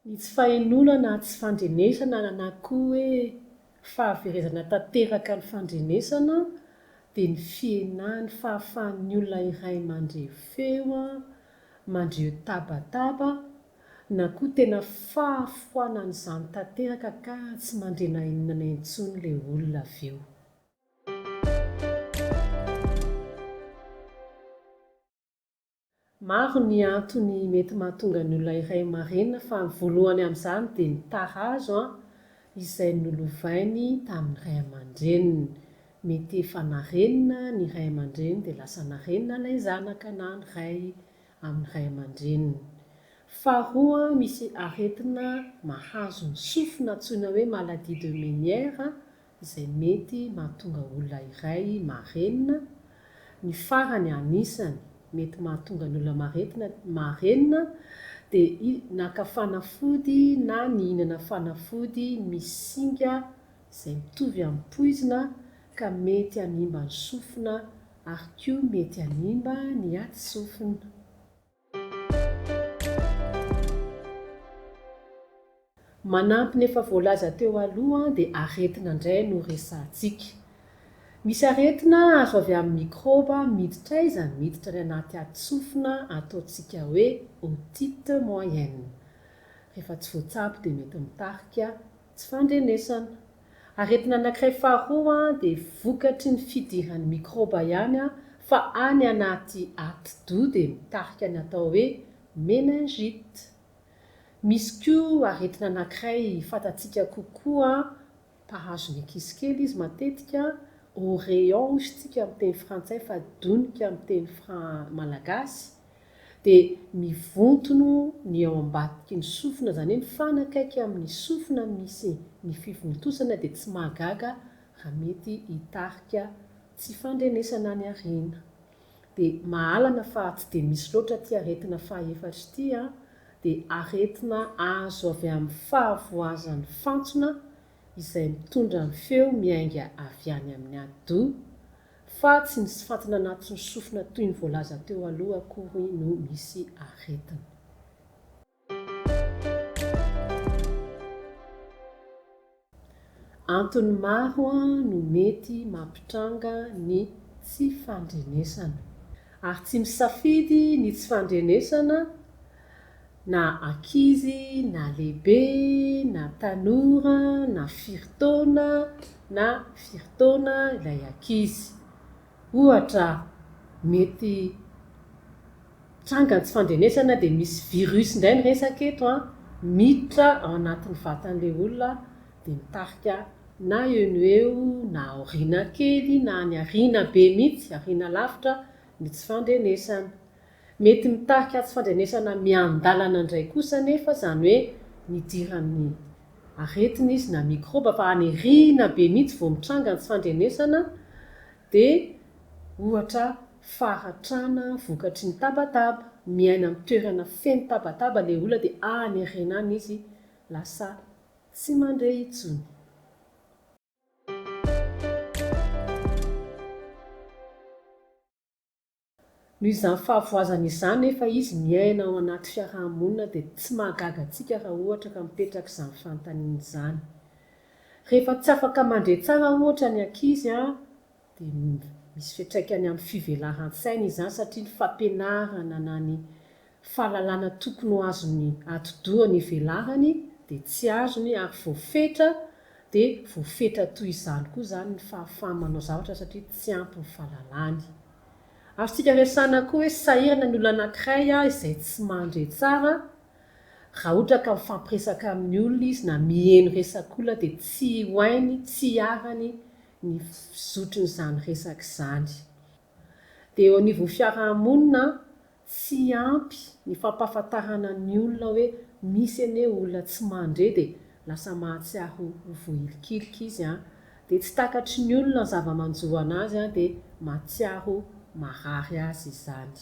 Ny tsy fahenoana na tsy fandrenesana na koa hoe fahaverezana tanteraka ny fandrenesana dia ny fihenan'ny fahafahan'ny olona iray mandre feo, mandre tabataba na koa tena fahafoanan'izany tanteraka ka tsy mandre na inona na intsony ilay olona avy eo. Maro ny antony mety mahatonga ny olona iray marenina fa ny voalohany amin'izany dia ny tarazo an, izay nolovainy tamin'ny ray aman-dreniny. Mety efa narenina ny ray aman-dreny dia lasa narenina ilay zanaka na ny ray amin'ny ray aman-dreniny. Faharoa misy aretina mahazo ny sofina antsoina hoe maladie de Menière izay mety mahatonga olona iray marenina, ny farany anisany mety mahatonga ny olona maretina marenina dia i naka fanafody na nihinana fanafody misy singa izay mitovy amin'ny poizina ka mety hanimba ny sofina ary koa mety hanimba ny aty sofina. Manampy ny efa voalaza teo aloha dia aretina indray no resahantsika. Misy aretina azo avy amin'ny mikrôba miditra aiza? Miditra any anaty adsofina ataontsika hoe otite moyenne. Rehefa tsy voatsabo dia mety mitarika Tsy fandrenesana. Aretina anankiray faharoa dia vokatry ny fidiran'ny mikrôba ihany fa any anaty atidoha dia mitarika ny atao hoe meningite. Misy koa aretina anankiray fantatsika kokoa mpahazo ny ankizy kely izy matetika, oreillons hozy tsika amin'ny teny frantsay fa donika amin'ny teny malagasy, dia mivontono ny ao ambadiky ny sofina, izany hoe mifanakaiky amin' ny sofina misy ny fivontosana dia tsy mahagaga raha mety hitarika tsy fandrenesana any aoriana. Dia mahalana fa tsy dia misy loatra ity aretina fahaefatra ity, dia aretina azo avy amin'ny fahavoazan'ny fantsona izay mitondra ny feo miainga avy any amin'ny ado, fa tsy ny sfantina anatin'ny sofina toy ny voalaza teo aloha akory no misy aretina. Antony maro no mety mampitranga ny tsy fandrenesana. Ary tsy misafidy ny tsy fandrenesana Na ankizy na lehibe, na tanora na firy taona na firy taona ilay ankizy. Ohatra, mety tranga ny tsy fandrenesana dia misy virus indray ny resaka eto an, miditra ao anatin'ny vatan'ilay olona dia mitarika na eo no eo na aoriana kely na any aoriana be mihitsy, aoriana lavitra ny tsy fandrenesana. Mety mitarika atsy fandrenesana miandalana indray kosa anefa izany hoe nidiran'ny aretina izy na mikrôba fa any aoriana be mihitsy vao mitranga ny tsy fandrenesana dia ohatra faratrana vokatry ny tabataba, miaina amin'ny toerana feno tabataba ilay olona dia any aoriana any izy lasa tsy mandre intsony. Noho izany fahavoazana izany anefa izy miaina ao anaty fiaraha-monina dia tsy mahagaga antsika raha ohatra ka mipetraka izany fanontaniana izany. Rehefa tsy afaka mandre tsara ohatra ny ankizy dia misy fiantraikany amin'ny fivelaran-tsainy izany satria ny fampianarana na ny fahalalana tokony ho azon'ny atidoha ny velarany dia tsy azony ary voafetra dia voafetra toy izany koa izany ny fahafahany manao zavatra satria tsy ampy ny fahalalany. Azontsika resahana koa hoe sahirana ny olona anankiray izay tsy mandre tsara, raha ohatra ka mifampiresaka amin'ny olona izy na miheno resak'olona dia tsy ho hainy, tsy hiarany ny fizotrin'izany resaka izany. Dia eo anivon'ny fiaraha-monina Tsy ampy ny fampahafantarana ny olona hoe misy anie olona tsy mandre dia lasa mahatsiahy ho vohilikilika izy an! Dia tsy takatry ny olona ny zava-manjo anazy an! Dia mahatsiaro marary azy izany.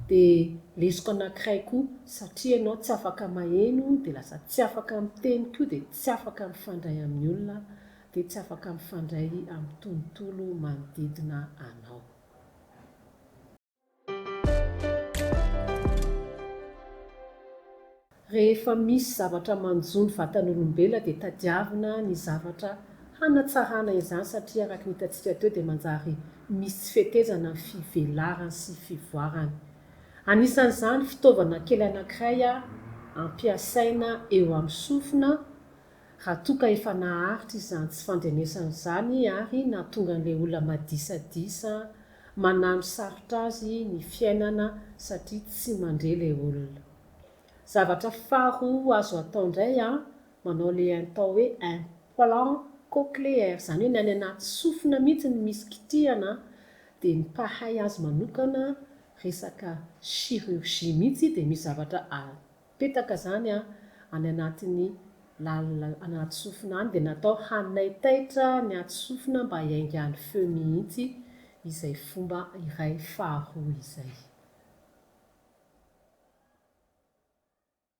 Dia lesoka anankiray koa satria ianao tsy afaka maheno dia lasa tsy afaka miteny koa dia tsy afaka mifandray amin'ny olona dia tsy afaka mifandray amin'ny tontolo manodidina anao. Rehefa misy zavatra manjo ny vatan'olombelona dia tadiavina ny zavatra hanatsarana izany satria araka ny hitantsika teo dia manjary misy tsy fetezana ny fivelarany sy fivoarany. Anisan'izany fitaovana kely anankiray ampiasaina eo amin'ny sofina raha toa ka efa naharitra izany tsy fandrenesana izany ary nahatonga an'ilay olona madisadisa Manano sarotra azy ny fiainana satria tsy mandre le olona. Zavatra faharoa azo atao ndray an, manao le intao hoe implant cochleaire, izany hoe ny any anaty sofina mihitsy no misy kitihana, dia ny mpahay azy manokana resaka chirurgie mihitsy dia misy zavatra Petaka izany any anatin'ny lalina anaty sofina any dia natao hanaitaitra ny aty sofina mba hiaingan'ny feo mihitsy izay fomba iray faharoa izay.